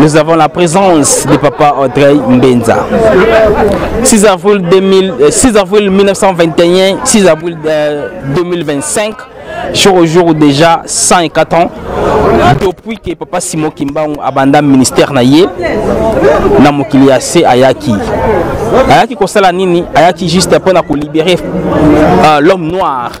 Nous avons la présence de papa Audrey Mbenza. 6 avril, 2000, 6 euh, avril 1921, 6 avril 2025, euh, jour au jour déjà 104 ans. Depuis que papa Simon Kimbangu abanda ministère na ye na mokili ya se ayaki ayaki kosala nini ayaki juste mpo na kolibere euh, l'homme noir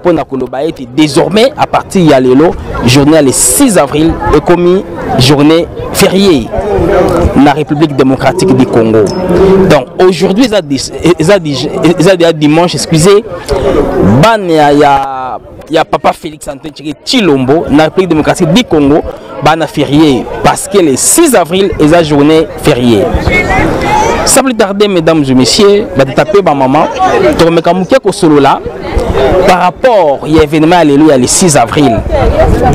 mpo na koloba ete désormais à partir ya lelo journée ya le 6 avril ekomi journée fériée na république démocratique du congo donc aujourd'hui eza déjà dimanche excusez bana ya, ya, ya papa félix antoine tshilombo na république démocratique du congo bana férié parce que le 6 avril est la journée fériée sans plus tarder mesdames et messieurs batatape bamama tokomeka moke kosolola par rapport ya événement alléluia le 6 avril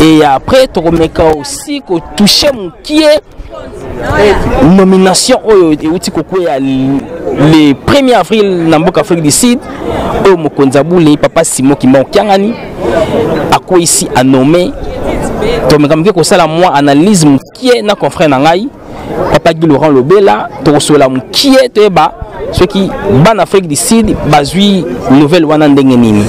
et après tokomeka aussi kotouche mokie nomination oyo euti kokwea le 1er avril na mboka afrique du sud oyo mokonzi abule papa simon kimba okiangani akweyisi anome tomeka moke kosala mwa analyse mokie na confrère na ngai papa guy laurent lobela tokosolola mokie toyeba soki bana afrique du sud bazwi nouvelle wana ndenge nini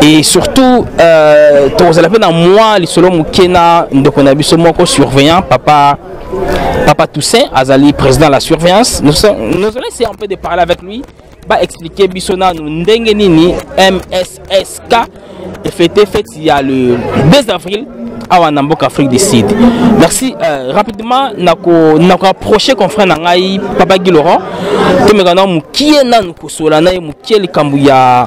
et surtout euh, tokozala mpe na mwa lisolo moke na ndeko na biso moko surveillant papa papa toussaint azali président la surveillance nous, nous allons essayer un peu de parler avec lui baexplike biso nanu ndenge nini mssk fete fete ya le 2 avril awa na mboka afrique du sud merci euh, rapidement nakoapproche confrère na ngai papa gi laurent tomeka na mokie nanu kosola na ye mokie likambo ya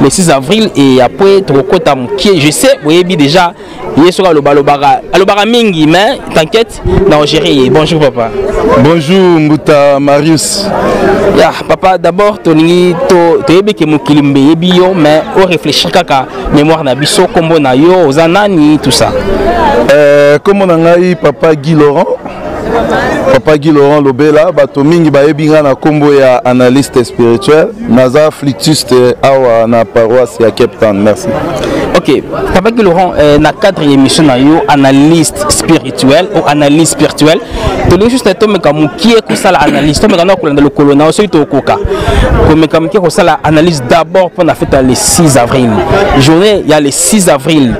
le 6 avril et après tokokɔta mokie je sais boyebi déjà ye soki aloba alobaka alobaka mingi mais t'inquiète na ogere ye bonjour papa bonjour mbuta marius ya yeah, papa d'abord tolingi toyebi to ke mokili mbe eyebi yo mais o réfléchir kaka mémoire na biso nkombo na yo oza nani tout ça euh, nkombo euh, na ngai papa guy laurent papa guy laurent lobela bato mingi bayebi ngai na nkombo ya analyste spirituel naza flitiste awa na paroisse ya cape town merci ok papa guy laurent eh, na cadre ya émission na yo analyste spirituel ou analyse spirituelle tolingi juste tomeka mokie kosala analyse tomeka na kolanda lokolo na yo soki tokoka komeka mokie kosala analyse d'abord mpo na fete ya le 6 avril journée ya le 6 avril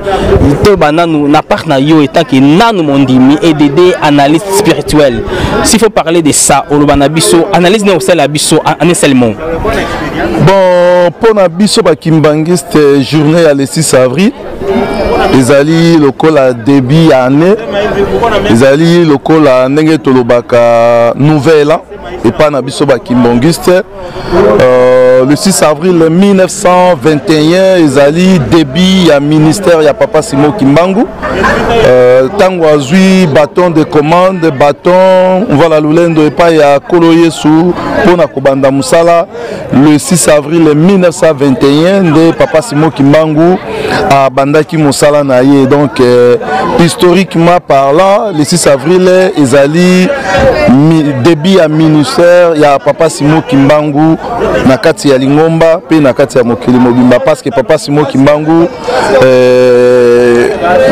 to bananu na part na yo etant que nanu mondimi et d'aider analyste spirituel s'il faut parler de ça oloba na biso analyse na osala biso en un seul mot bon mpo na biso bakimbanguiste euh, journée ya le 6 avril ezali lokola début ya année ezali lokola ndenge tolobaka nouvelle an epai na biso bakimbonguiste euh, le 6 avril 1921 ezali début ya ministère ya papa simo kimbangu ntango euh, azwi baton de commande baton mvala lolendo epai ya kolo yesu mpo na kobanda mosala le 6 avril 1921 nde papa simon kimbangu abandaki mosala na ye donc euh, historiquement parlant le 6 avril ezali début ya ministère ya papa simon kimbangu na kati ya lingomba mpe na kati ya mokili mobimba parce que papa simon kimbangu euh,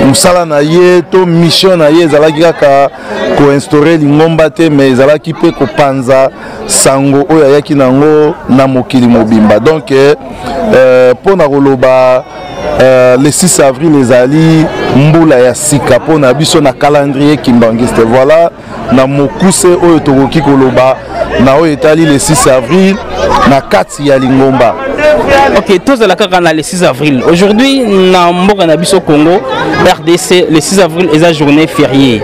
mosala na ye to mission na ye ezalaki kaka koinstaure lingomba te mais ezalaki mpe kopanza sango oyo ayaki na yango na mokili mobimba donc eh, eh, mpo na koloba eh, le 6 avril ezali mbula ya sika mpo na biso na calendrier kimbanguiste voilà na mokuse oyo tokoki koloba na oyo etali le 6 avril na 4 ya lingomba ok tozala kaka na le 6 avril aujourd'hui na mboka na biso congo rdc le 6 avril eza journée fériée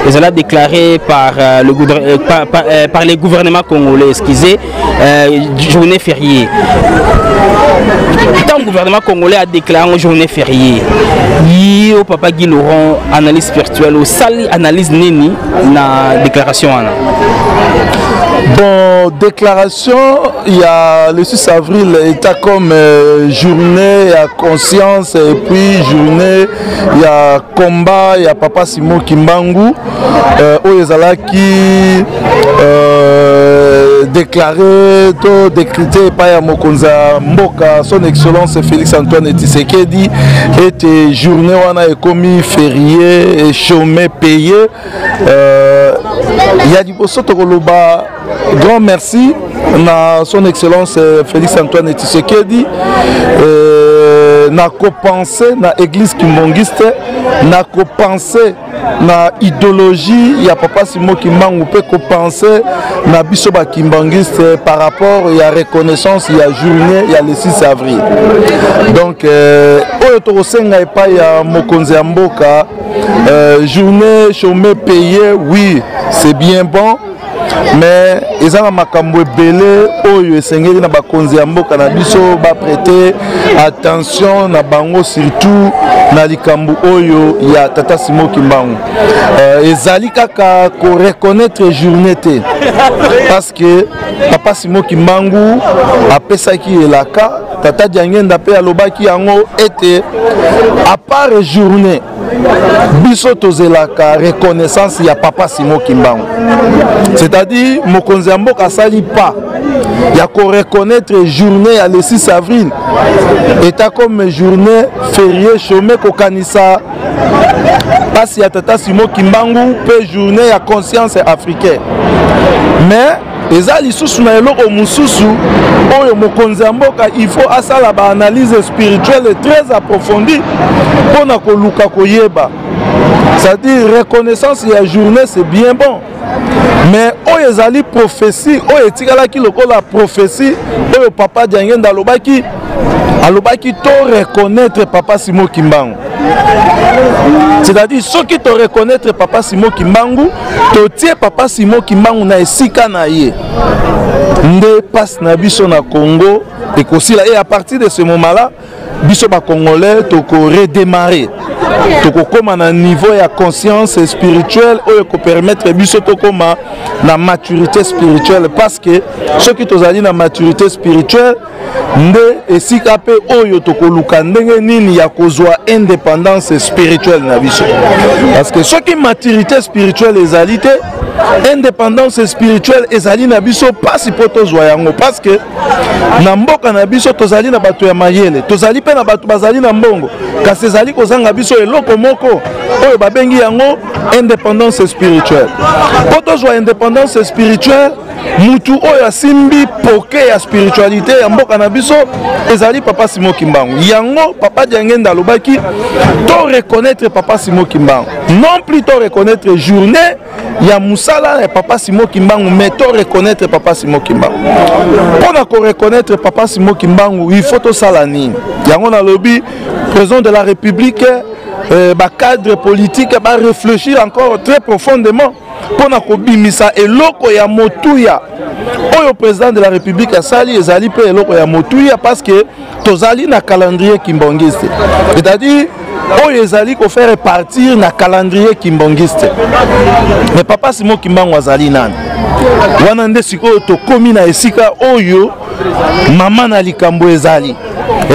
ezala déclaré par, euh, le, euh, par, par, euh, par les gouvernements congolais excusez euh, journée fériée ntango gouvernement congolais adéclare yango journée férié yo papa guy laurent analyse spirituelle osali analyse nini na déclaration wana bon déclaration Il y a le 6 avril état comme euh, journée à conscience et puis journée il y a combat il y a papa Simon Kimbangu euh, oyo ezalaki euh, déclaré to décrété epai ya mokonzi ya mboka son excellence félix antoine tshisekedi ete journée wana ekomi ferie chôme paye euh, ya liboso tokoloba Grand merci na son excellence euh, Félix Antoine Tshisekedi euh, na kopense na église kimbongiste na kopense na idéologie ya papa Simon Kimbangu mpe kopense na biso ba kimbangiste par rapport ya reconnaissance ya journée ya le 6 avril donc euh, oyo tokosenga epai ya mokonzi ya mboka euh, journée chômé payé oui c'est bien bon mais eza na makambo ebele oyo esengeli na bakonzi ya mboka na biso baprete attention na bango surtout na likambo oyo ya tata simo kimbangu euh, ezali kaka koreconnaitre journée te parce que papa simo kimbangu apesaki elaka tata diangenda mpe alobaki yango ete apart journée biso tozelaka reconnaissance ya papa simo kimbangu c'est-à-dire mokonzi ya mboka asali pas ya koreconnaitre journée ya le 6 avril eta comme journée ferie chome kokanisa mpasi ya tata simo kimbangu mpe journée ya conscience africaine mais eza lisusu na eloko mosusu oyo mokonzi ya mboka il faut asala baanalyse spirituelle très approfondie mpo na koluka koyeba c'est-à-dire reconnaissance ya journée c'est bien bon mais oyo ezali prophétie oyo etikalaki lokola prophétie oyo papa diangenda alobaki alobaki to reconnaître papa simo kimbangu c'est-à-dire soki to reconnaître papa simo kimbangu totie papa simo kimbangu na esika na ye nde mpasi na biso na congo ekosila et à partir de ce moment là biso bacongolais tokoredemare tokokóma na niveau ya conscience spirituelle oyo ekopermettre biso tokóma na maturité spirituelle parce que soki tozali na maturité spirituelle nde esika mpe oyo tokoluka ndenge nini ya kozwa indépendance spirituelle na biso parce que soki maturité spirituelle ezali te indépendance spirituelle ezali na biso mpasi mpo tozwa yango parce que na mboka na biso tozali na bato ya mayele tozali mpe na bato bazali na mbongo kasi ezali kozanga biso eloko moko oyo babengi yango indépendance spirituelle mpo tozwa indépendance spirituelle mutu oyo asimbi poke ya spiritualité ya mboka na biso ezali papa simo kimbangu yango papa diangenda alobaki to reconnaître papa simo kimbangu non plus to reconnaître journée ya musala ya papa simo kimbangu mais to reconnaître papa simo kimbangu mpo na koreconnaître papa simo kimbangu il faut tosala nini yango nalobi président de la république euh, bacadre politique barefléchir encore très profondément mpo na kobimisa eloko ya motuya oyo président de la république asali ezali mpe eloko ya motuya parce que tozali na calendrier kimbongiste c'est-à-dire oyo ezali kofaire partir na calendrier kimbongiste mais papa simo kimbangu azali nani wana nde sikoyo tokomi na esika oyo mama na likambo ezali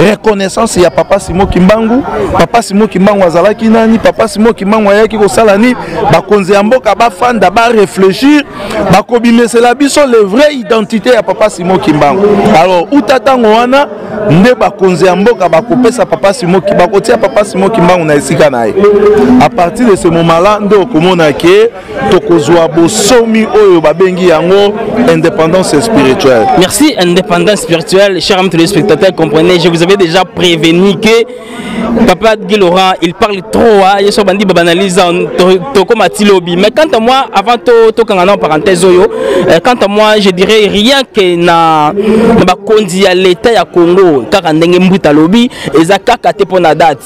reconnaissance ya papa simo kimbangu papa simo kimbangu azalaki nani papa simo kimbangu ayaki kosala nini bakonzi ya mboka bafanda bareflechir bakobimesela biso le vrai identité ya papa simo kimbangu alors uta ntango wana nde bakonzi ya mboka bakopesa papa simo bakotia papa simo kimbangu na esika na ye a partir de ce moment là nde okomona ke tokozwa bosomi oyo babengi yango indépendance spirituelle. Merci, indépendance spirituelle. Chers amis téléspectateurs, comprenez, je vous avais déjà prévenu que Papa Guy Laurent, il parle trop. Hein, je suis bandit banalise toko matilobi. Mais quant à moi, avant tout, tout en parenthèse, euh, quant à moi, je dirais rien que na na bakonzi ya l'État ya Congo, kaka ndenge mbuta lobi, eza kaka te pona date.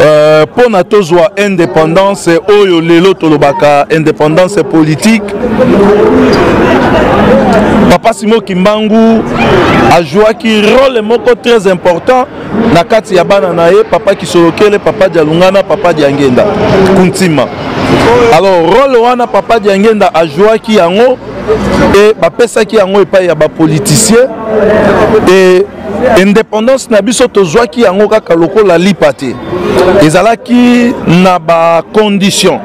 Euh, mpo na tozwa indépendance oyo lelo tolobaka indépendance politique papa simo kimbangu ajouaki role moko très important na kati ya bana na ye papa kisolokele papa dialungana papa diangenda kuntima alors role wana papa diangenda ajouaki yango e bapesaki yango epai ya bapoliticien e independance na biso tozwaki yango kaka lokola lipa te ezalaki na bacondition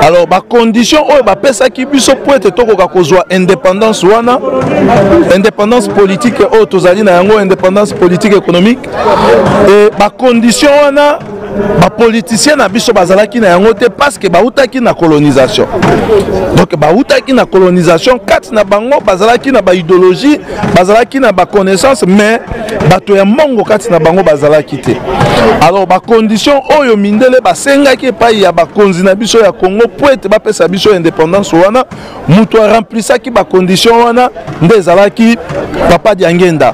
alors bacondition oyo bapesaki biso mpo ete tokoka kozwa indépendance wana indépendance politique oyo tozali na yango indépendance politique économique e bacondition wana ba politiciens na biso bazalaki na yango te parce que bautaki na colonisation donc bautaki na colonisation kati na bango bazalaki na baidéologie bazalaki na baconnaissance mais bato ya mbongo kati na bango bazalaki te alors bacondition oyo mindele basengaki epai ya bakonzi na biso ya congo mpo ete bapesa biso indépendance wana moto aremplisaki bacondition wana nde ezalaki papa diangenda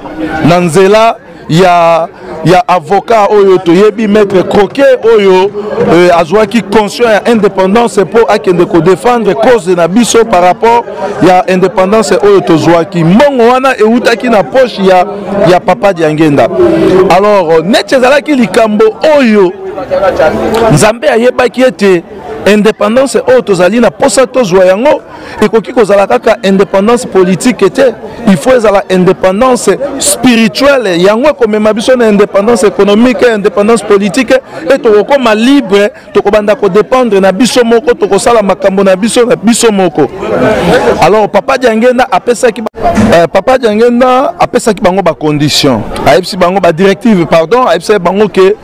na nzela ya ya avocat oyo toyebi maître croquet oyo euh, azwaki conscient ya indépendance mpo akende kodefendre cause na biso par rapport ya indépendance oyo tozwaki mbongo wana ewutaki na poche ya, ya papa diangenda alors neti ezalaki likambo oyo nzambe ayebaki ete indépendance oyo tozali na mposa tozwa yango ekoki kozala kaka indépendance politique te il faut ezala indépendance spirituelle yango ekomema biso na indépendance économique indépendance politique e tokokoma libre tokobanda kodépendre na biso moko tokosala makambo na biso na biso moko alors papa diangenda apesaki euh, papa diangenda apesaki bango bacondition ayebisi bango badirective pardon ayebisaki bango ke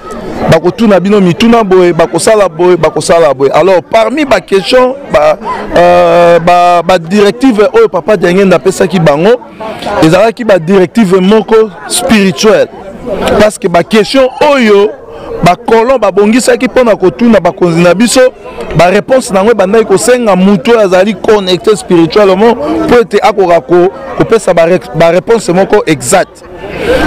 bakotuna bino mituna boye bakosala boye bakosala boye alors parmi baquestion badirective ba, ba, ba oyo papa diangenda apesaki bango ezalaki badirective moko spirituelle parce que baquestion oyo bakolon babongisaki mpo na kotuna bakonzi na biso bareponse na yango ebandaki kosenga moto oyo azali connecte spirituellement mpo ete akoka kopesa bareponse moko exacte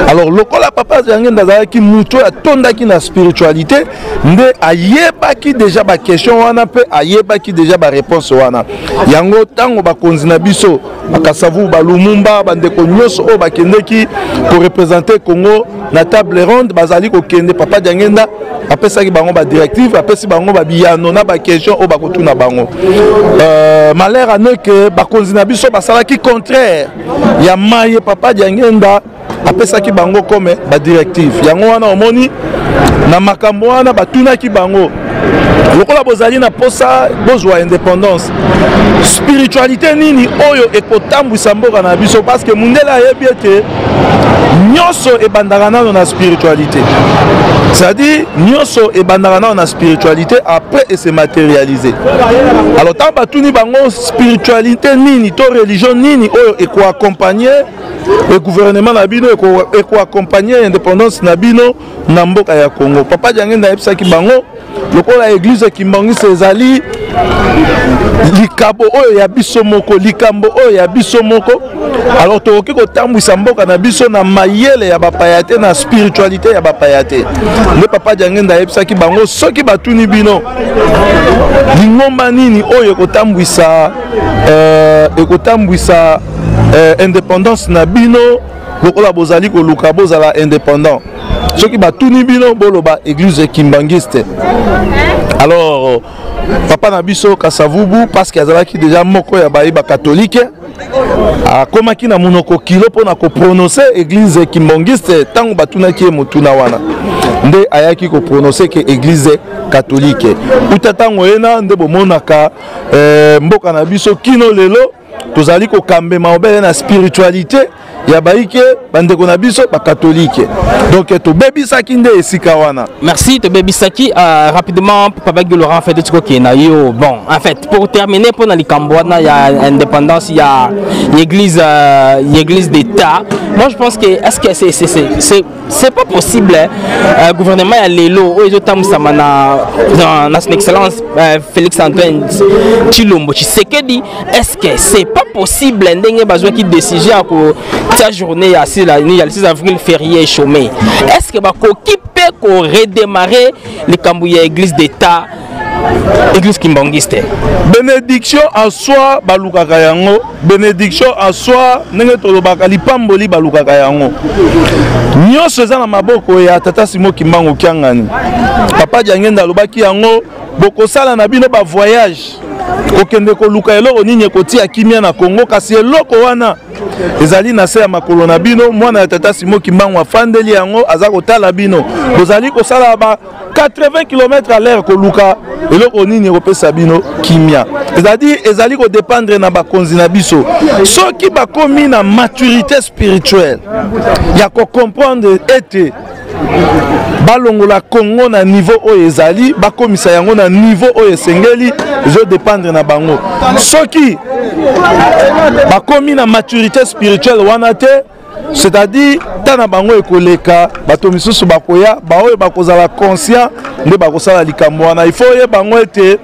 alors lokola papa zangenda azalaki moto oyo atondaki na spiritualité nde ayebaki deja baquestion wana mpe ayebaki deja bareponse wana yango ntango bakonzi na biso bakasavu balumumba bandeko nyonso oyo bakendeki korepresente congo na table ronde bazali kokende papa diangenda apesaki bango badirective apesi bango babiyano na baquestion oyo bakotuna bango euh, malheur aneke bakonzi na biso basalaki contraire ya maye papa diangenda apesaki bango comme badirective yango wana omoni na makambo wana batunaki bango lokola bozali na mposa bozwa indépendance spiritualité nini oyo ekotambwisa mboka na biso parce que mundele ayebi ete nyonso ebandaka nano na spiritualité c'est-à-dire nyonso ebandaka nano na spiritualité après ese matérialise alors ntango batuni bango spiritualité nini to religion nini oyo ekoakompagne e gouvernement na bino ekoakompagne e indépendance na bino na mboka ya congo papa diangenda ayebisaki bango lokola eglise ya kimbangisa ezali likabo oyo ya biso moko likambo oyo ya biso moko alors tokoki kotambwisa mboka na biso na mayele ya bapaya te na spiritualité ya bapaya te nde papa diangenda ayebisaki bango soki batuni bino lingomba nini oyo ekotambwisa euh, ekotambwisa euh, indépendance na bino lokola bozali koluka bozala indépendant soki batuni bino boloba église kimbangiste alors papa na biso kasavubu parce que azalaki déjà moko ya baye bakatolike akomaki na monoko kilo mpo na koprononse eglize kimbongiste ntango batunaki ye motuna wana nde ayaki koprononse ke eglize katolike uta ntango ena nde bomonaka eh, mboka na biso kino lelo tozali kokambema obele na spiritualité ya baike bandeko na biso bakatolike donc tobebisaki nde esika wana merci tobebisaki uh, rapidement papa guy laurent fete tikoki na yo bon en fait pour terminer mpo na likambo wana ya indépendance ya église uh, église d'état moi je pense que est ce que c'est c'est pas possible hein. euh, gouvernement ya lelo oyo ezotambwisama na, na, na son excellence euh, félix antoine chilombo tshisekedi est ce que c'est pas possible ndenge bazwaki décision ya kotia journée ya 6 avril férié chômé est ce que bakoki mpe koredémarrer likambo ya église d'état église kimbanguiste bénédiction en soi balukaka yango bénédiction en soi ndenge tolobaka lipamboli balukaka yango nyonso eza na maboko ya tata simo kimbangu kiangani papa diangenda alobaki yango bokosala na bino bavoyage kokende koluka eloko nini ekotia kimia na kongo kasi eloko wana ezali na se ya makolo na bino mwana ya tata simo kimbangu afandeli yango aza kotala bino bozali kosala ba 80 km à l'heure koluka eloko nini ekopesa bino kimia ezali ezali kodépendre na bakonzi na biso soki bakomi na maturité spirituelle ya kocomprendre ete balongola congo na niveau oyo ezali bakomisa yango na niveau oyo esengeli ezodépendre na bango soki bakomi na maturité spirituelle wana te c'est-à-dire ntango na bango ekoleka bato misusu bakoya baoyo bakozala conscient nde bakosala likambo wana ifo oyeba yango ete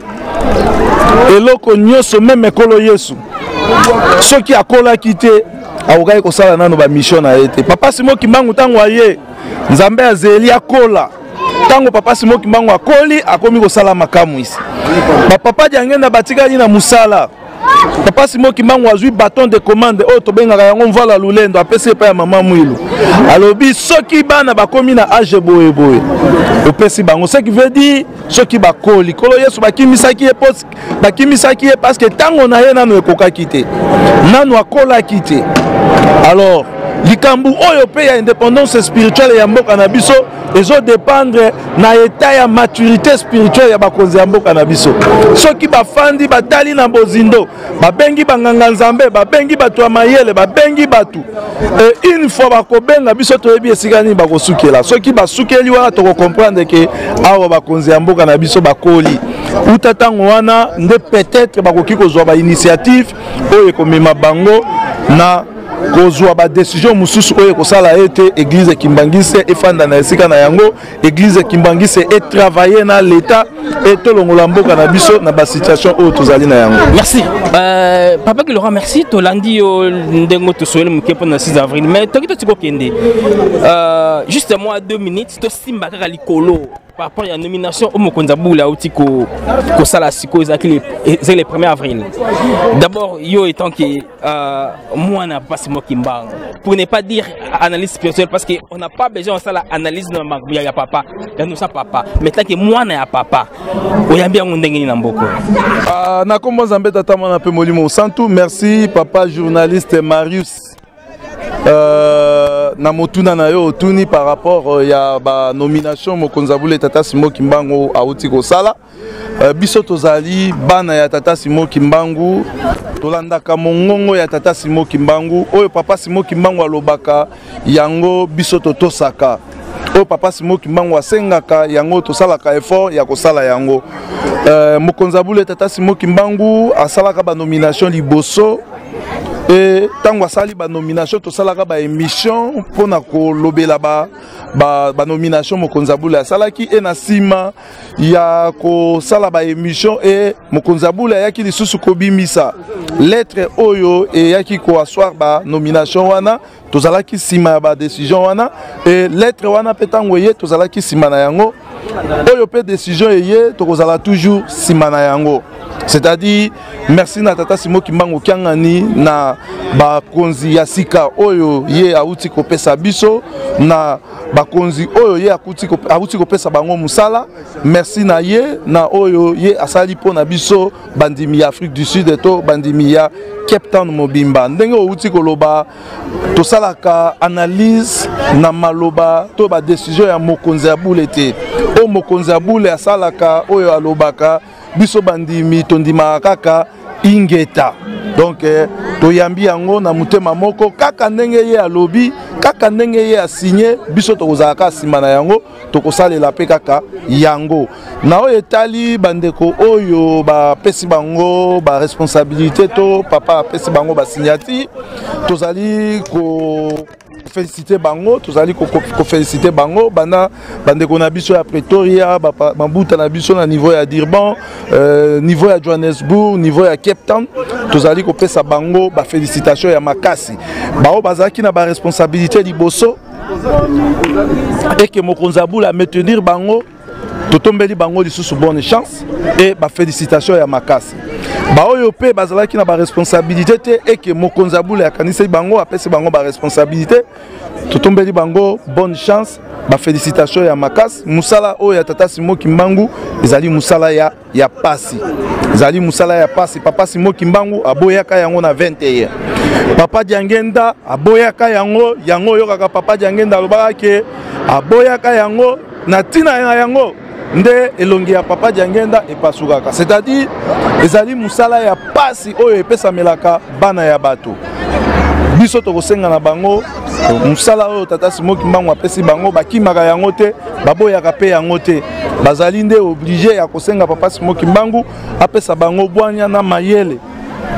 eloko nyonso meme ekolo yesu soki akolaki te akokaki kosala nano bamisio na ye te papa simo kimbangu ntango aye nzambe azeli akola ntango papa simo kimbangu akoli akomi kosala makamwisi bapapa diangenda batikali na mosala papa simo kimbangu azwi baton de commande oyo tobengaka yango mvala lulendo apesi epai ya mama mwilu alobi soki bana bakomi na age boye boye opesi bango ce qui veut dire soki bakoli kolo yesu bakimisaki ye bakimisaki ye parce que ntango na ye nano ekokaki te nano akolaki te alors likambo oyo mpe ya indépendance spirituelle ya mboka na biso ezo dépendre na état ya maturité spirituelle ya bakonzi ya mboka na biso soki bafandi batali na bozindo babengi banganga nzambe babengi bato ya mayele babengi bato e une fois bakobenga biso toyebi esika nini bakosukela soki basukeli wana tokokomprendre ke awa bakonzi ya mboka na biso bakoli uta ntango wana nde peut-être bakoki kozwa bainitiative oyo ekomema bango na kozwa badesizio mosusu oyo ekosala ete eglize ya kimbangiste efanda na esika na yango eglize ya kimbangiste etravaille na leta etolongola mboka na biso na basituation oyo tozali na yango merci euh, papa kilora merci tolandi yo ndenge tosoyeli moke mpo na 6 avril mais toki toti kokende euh, juste moi 2 minutes tosimba kaka likolo par rapport ya nomination oyo mokonzi ya bula auti kosala sikoyo ezalaki ezali le 1er avril d'abord yo etant ke euh, mwana mpasi mwa kimbango pour ne pas dire analyse spirituelle parce que on n'a pas besoin osala analyse na makambo ya papa ya nosa papa mais tanke mwana ya papa oyambi yango ndenge nini na mboko euh, na nkombo nzambe tata mwana mpe molimo mosantu merci papa journaliste marius Euh, na motuna na yo otuni par rapport euh, ya banomination mokonzi ya bule tata simo kimbangu awuti kosala euh, biso tozali bana ya tata simo kimbangu tolandaka mongongo ya tata simo kimbangu oyo papa simo kimbangu alobaka yango biso totosaka oyo papa simo kimbangu asengaka yango tosalaka effort ya kosala yango euh, mokonzi ya bule tata simo kimbangu asalaka banomination liboso e ntango asali banomination tosalaka baémission mpo na kolobela banomination ba, ba mokonzi ya bule asalaki e na nsima ya kosala baémission e mokonzi ya bule ayaki lisusu kobimisa lettre oyo eyaki koaswar banomination wana tozalaki nsima ya badecision wana e lettre wana mpe ntango eye tozalaki nsima na yango oyo mpe decision eye tokozala toujours nsima na yango c'est-à-dire merci na tata simo kimbangu kiangani na bakonzi ya sika oyo ye auti kopesa biso na bakonzi oyo ye auti kopesa bango mosala merci na ye na oyo ye asali mpo na biso bandimi ya afrique du sud to bandimi ya cape town mobimba ndenge outi koloba tosalaka analyse na maloba to badesizio ya mokonzi ya bule te oyo mokonzi ya bule asalaka oyo alobaka biso bandimi tondimaka kaka ingeta donc eh, toyambi yango na motema moko kaka ndenge ye alobi kaka ndenge ye asigne biso tokozala kaka nsima na yango tokosalela mpe kaka yango na oyo etali bandeko oyo bapesi bango baresponsabilité to papa apesi bango basignati tozali ko kofelisite bango tozali kofelisite bango banda bandeko na biso ya pretoria mabuta na biso na niveau ya durban euh, niveau ya johannesburg niveau ya cape town tozali kopesa bango bafélicitation ya makasi baoyo bazalaki na baresponsabilité liboso et que mokonzi abula maintenir bango totombeli bango lisusu bonne chance et bafélicitation ya makasi baoyo mpe bazalaki na baresponsabilité te eke mokonzi abula akanisaki bango apesi bango baresponsabilité totombeli bango bonne chance bafélicitation ya makasi mosala oyo ya tata simo kimbangu ezali mosala ya ya pasi zali musala ya pasi papa simo kimbangu aboyaka yango na 21 papa diangenda aboyaka yango yango oyokaka papa diangenda alobaka ke aboyaka yango na ntina na yango nde elongi ya papa diangenda epasukaka c'est-à-dire ezali mosala ya pasi oyo epesamelaka bana ya bato biso tokosenga na bango mosala oyo tata simo kimbangu apesi bango bakimaka yango te baboyaka mpe yango te bazali nde oblige ya kosenga papa simo kimbangu apesa bango bwanya na mayele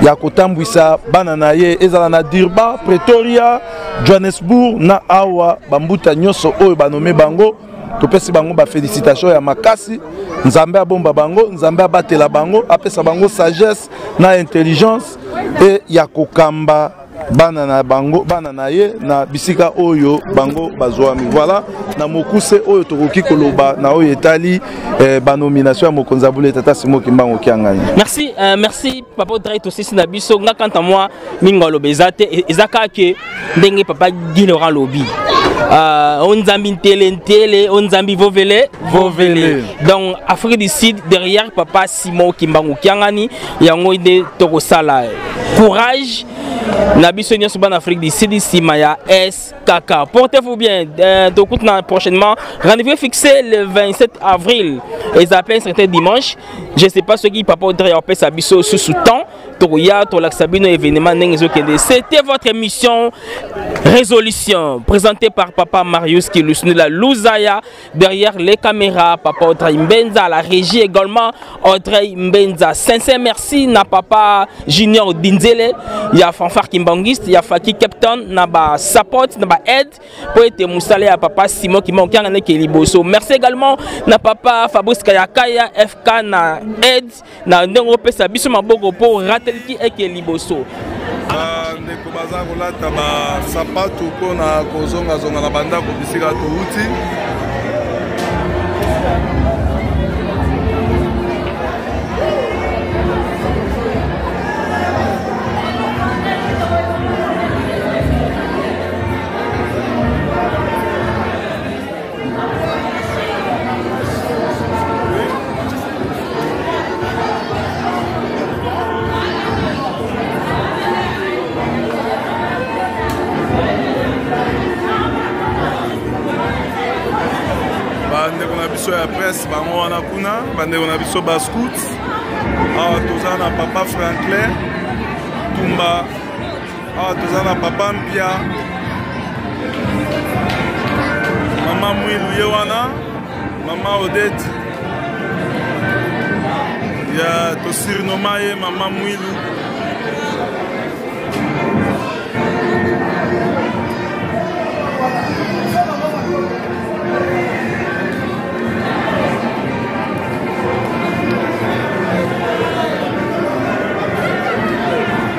ya kotambwisa bana na ye ezala na dirba pretoria johannesburg na awa bambuta nyonso oyo banome bango topesi bango bafélicitation ya makasi nzambe abomba bango nzambe abatela bango apesa bango sagesse na intelligence e ya kokamba bana na bango bana na ye na bisika oyo bango bazwami voilà na mokuse oyo tokoki koloba na oyo etali eh, banomination ya mokonzi ya bule tata simo kimbango kiangani merci euh, merci papa otrai tosisi na biso nga kanta mwa mingi aloba eza te e, eza kaka ke ndenge papa guy laurent lobi uh, o nzambi ntele ntele o nzambi vovele vovele donc afrique du sud derrière papa simon kimbangu kiangani yango nde tokosala courage na biso nyonso bana afrique du sud nsima ya skk porte vous bien euh, tokutana prochainement rendez-vous fixé le 27 avril eza mpe certain dimanche je sais pas soki papa odre ya opesa biso susu temps tokoya tolakisa bino événement ndenge ezokende c'était votre émission résolution présentée par papa marius kilusnila luzaya Derrière les caméras, Papa Audrey Mbenza, la régie également, Audrey Mbenza. Sincère merci na Papa Junior Dinzele, il y a Fanfare Kimbanguiste, il y a Faki Captain, na ba support, na ba aide, pour être moussalé à Papa Simon qui manque un Merci également na Papa Fabrice Kayakaya, FK, na aide. na ndenge opesa biso maboko mpo ratelki eke liboso ah, ndeko baza kolata basapatu mpo na kozongazonga na bandako bisika touti bandeko na biso ya presse bango wana kuna bandeko na biso bascout awa toza na papa franklin tumba awa toza na papa mpia mama mwilu ye wana mama odete ya tosirinoma ye mama mwilu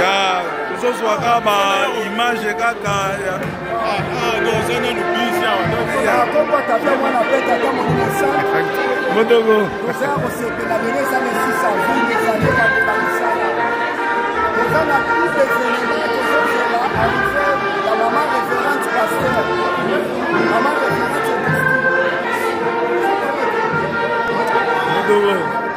ya tozozwa kaka ba image kaka motoko Thank you.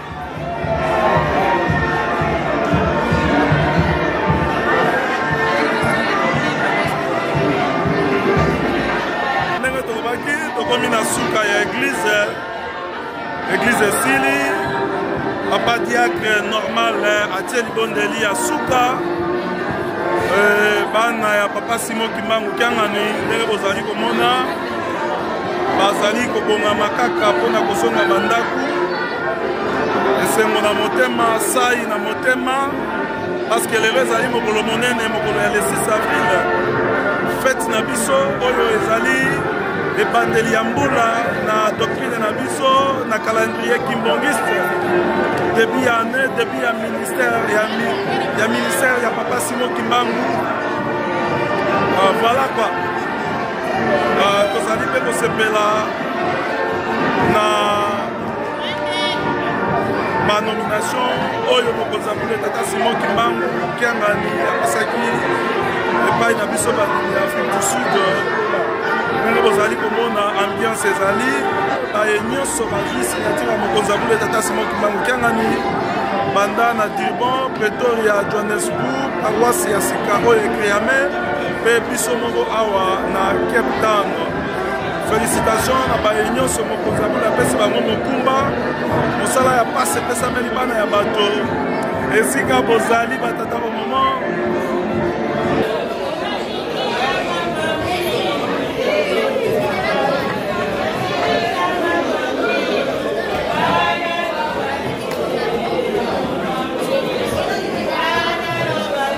tokomi na suka ya eglize eglize esili papa diacre normal eh, atie libondeli ya suka eh, bana ya papa simon kimbangu kiangani ndenge bozali komona bazali kobongama kaka mpo na kozonga bandako esengo na motema sai na motema paske lelo ezali mokolo monene mokolo ya le 6 avril fete na biso oyo ezali ebandeli ya mbula na doctrine na biso na calendrier kimbongiste debut ya année debut ya ministère ya, mi, ya ministère ya papa simon kimbangu uh, voilà quoi Euh, tozali mpe kosepela na banomination oyo mokonzi ya mboka tata simon kimbangu kiangani apesaki epai na biso bandimi ya afrique du sud ndenge bozali komona ambiance ezali baye nyonso bazwi signature ya mokonzi ya mboka tata simon kimbangu kiangani banda na durban pretoria johannesburg paroisse ya sika oyo ekreame mpe biso moko awa na cape town félicitation na baye nyonso mokonzi ya bino apesi bango mokumba mosala ya mpasi epesameli bana ya bato esika bozali batata bamama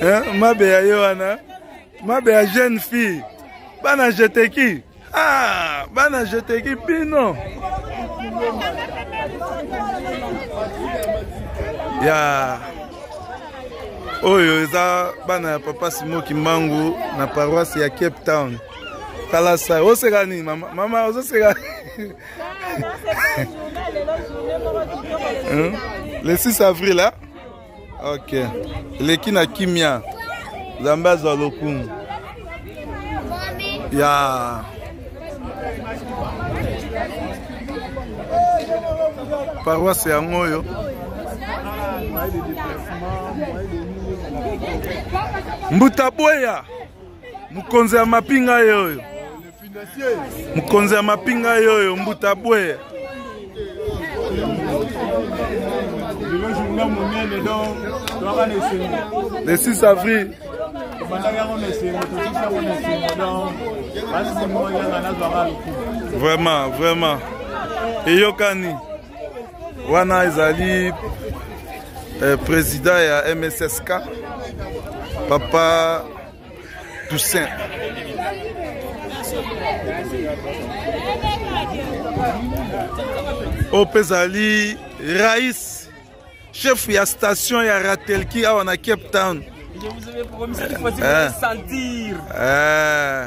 eh, mabe ya ye wana mabe ya jeune fille bana jeteki ah, bana jeteki bino ya oyo eza bana ya papa simo kimbangu na paroisse ya cape town tala sai oseka nini mama mama ozoseka le 6 avril hein? ok eleki na kimia nzambe azwa lokumu ya yeah. paroisse yango oyo mbuta boya mokonzi ya mapinga ye oyo mokonzi ya mapinga yoyo mbuta bwe le 6 avril vraiment vraiment eyokani wana ezali eh, président ya mssk papa Toussaint. oyo mpe ezali rais chef ya station ya ratelki awa na cape town Je vous avais promis cette fois-ci, vous allez sentir. Eh.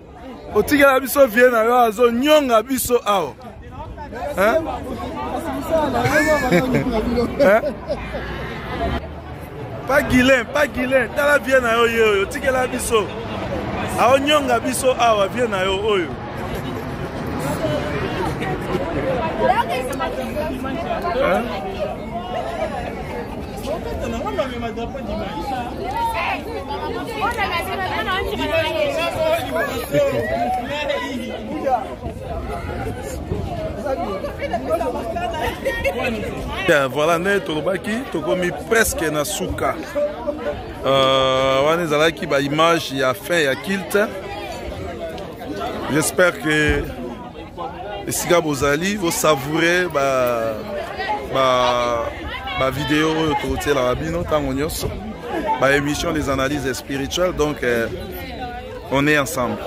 otikela biso vie na yo azonyonga biso awa pa gilen pa gilen tala vie na yo ye oyo otikela biso aonyonga biso awa vie na yo oyo Hein? Bien, voilà nde tolobaki tokomi presque na suka euh, wana ezalaki baimage ya fin ya kilte j'espère que esika bozali bosavoure ba, ba, ba video oyo tokotielaka bino ntango nyonso ba émission des analyses spirituelles donc eh, on est ensemble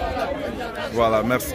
voilà merci